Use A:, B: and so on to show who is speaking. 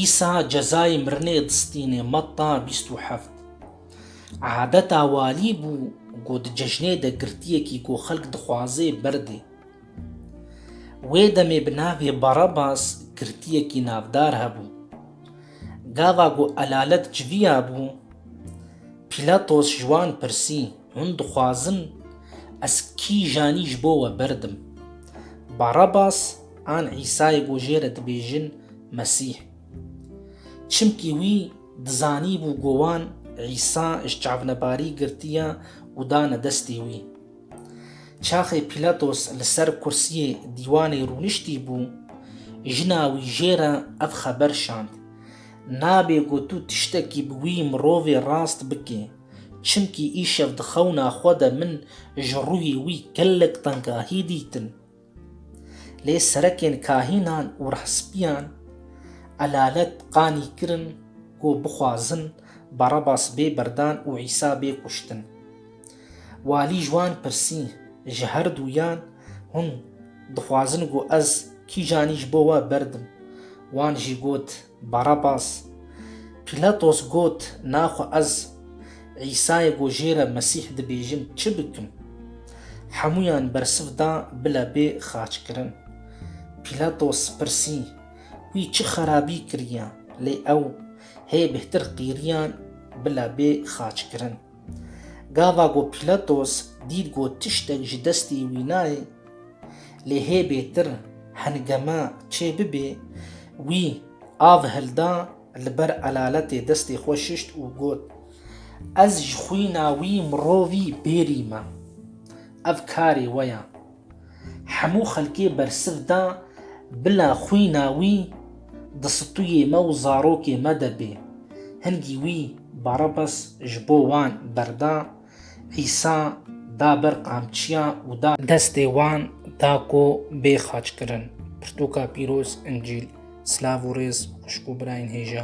A: Îsa cezayê mirinê distîne Metta bîst û heft. Adeta walî bû ku di cejnê de girtiyekî ku xelk dixwazê berdê. Wê demê bi navê Barabas girtiyekî navdar hebû. Gava ku elalet civiya bû, Pîlatos ji wan pirsî. Hûn dixwazin ez kîjanî ji bo we berdim. Barabas an Îsayê ku jê re dibêjin Mesîh. Çimkî wî dizanîbû ku wan Îsa ji çavnebarî girtiye û dane destê wî. Çaxê Pîlatos li ser kursiyê dîwanê rûniştî bû, jina wî jê re ev xeber şand, Nabê ku tu tiştekî bi wî mirovê rast bikî. Çimkî îşev di xewna xwe de min ji ruhî wî gelek tengahî dîtin. Lê serekên kahînan û rehspîyan elalet qanî kirin ku bixwazin Barabas bê berdan û Îsa bê kuştin. Walî ji wan pirsî, Ji her dûyan hûn dixwazin ku ez kîjanî ji bo we berdim? Wan jî got, Barabas. Pîlatos got, Naxwe ez Îsayê ku jê re Mesîh dibêjin çi bikim? Hemûyan bersiv da bila bê xaçkirin. Pîlatos pirsî, Wî çi xerabî kiriye? Lê ew hê bêhtir qîriyan bila bê xaçkirin. Gava ku Pîlatos dît ku tiştek ji destê wî nayê, lê hê bêtir hengema çê bibê, wî av hilda li ber elaletê destê xwe şişt û got, Ez ji xwîna wî mirovî bêrî me. Ev karê we ye. Hemû xelkê bersiv da bila xwîna wî di situyê me û zarokê me de bê. Hingî wî Barabas ji bo wan berda, Îsa da ber qamçiya û da. Destê wan da ku bê xaçkirin. Pirtûka pîroz, Încîl. Silav û rêz xwişk û birayên hêja.